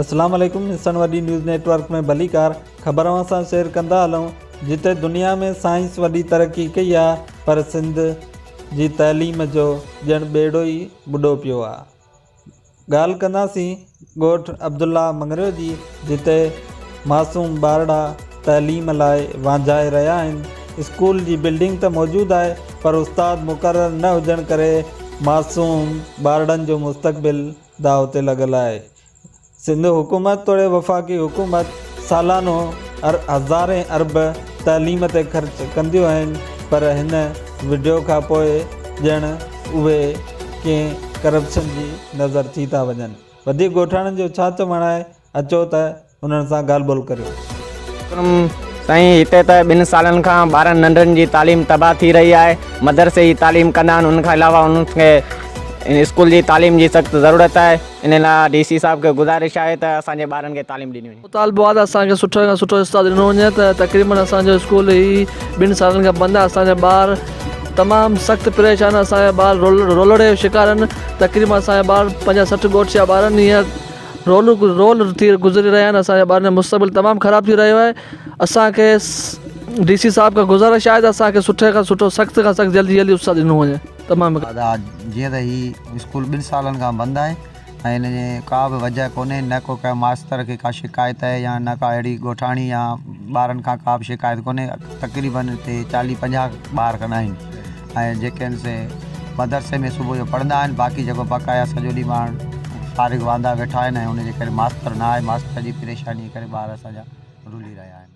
السلام عليڪم حصن وڏي نيوز نيٽ ورڪ ۾ ڀليڪار خبر اوهان سان شيئر ڪندا هلون جتي دنيا ۾ سائنس وڏي ترقي ڪئي آهي پر سنڌ جي تعليم جو ڄڻ ٻيڙو ئي ٻڏو پيو آهي ڳالهه ڪنداسين ڳوٺ عبدالله مڱريو جي جتي معصوم ٻارڙا تعليم لاء وانجهائي رهيا آهن. اسڪول جي بلڊنگ ته موجود آهي پر استاد مقرر نه هجڻ ڪري معصوم ٻارڙن جو مستقبل داء تي لڳل آهي. سنڌ حڪومت توڙي وفاقي حڪومت سالانو هزارين ارب تعليم تي خرچ ڪنديون آهن پر هن وڊيو کان پوء ڄڻ اهي ڪنهن ڪرپشن جي نظر ٿي ٿا وڃن. وڌيڪ ڳوٺاڻن جو ڇا چوڻ آهي اچو ته انهن سان ڳالهه ٻولهه ڪريون. وڪرم، سائين هتي ته ٻن سالن کان ٻارن ننڍڙن جي تعليم تباهه ٿي رهي آهي، مدرسي جي تعليم ڪندا آهن ان کان علاوه انهن کي اسڪول جي تعليم جي سخت ضرورت آهي، انهي لاء ڊي سي صاحب کي گذارش آهي ته اسان جي ٻارن کي تعليم ڏني وڃي. مطالبو آهي ته اسان کي سٺو کان سٺو استاد ڏنو وڃي ته تقريبن اسان جو اسڪول هي ٻن سالن کان بند آهي اسان جا ٻار تمام سخت پريشان آهن اسان جا ٻار رولڙي جو شڪار آهن تقريبن اسان جا ٻار پنجاهه سٺ ڳوٺ جا ٻار آهن هينئر رولو رول ٿي گذري رهيا آهن اسان جا ٻارن جو مستقبل تمام خراب ٿي رهيو آهي اسان کي ڊي سي صاحب کان گذارش آهي ته اسان کي سٺي کان سٺو سخت کان سخت جلدي جلدي استاد ڏنو وڃي. تمام هڪ. ادا جيئن ته هي اسڪول ٻن سالن کان بند آهي ۽ ان جي ڪا به وجهه ڪونهي نه ڪو ڪنهن ماستر کي ڪا شڪايت آهي يا نه ڪا اهڙي ڳوٺاڻي يا ٻارن کان ڪا به شڪايت ڪونهي تقريباً هتي چاليهه پنجاهه ٻار کن آهن ۽ جيڪي آهن سي مدرسي ۾ صبح جو پڙهندا آهن باقي جيڪو بقايا سڄو ڏينهن ٻار فارغ واندا ويٺا آهن ۽ ان جي ڪري ماستر نه آهي ماستر جي پريشاني ڪري ٻار اسان جا رلي رهيا آهن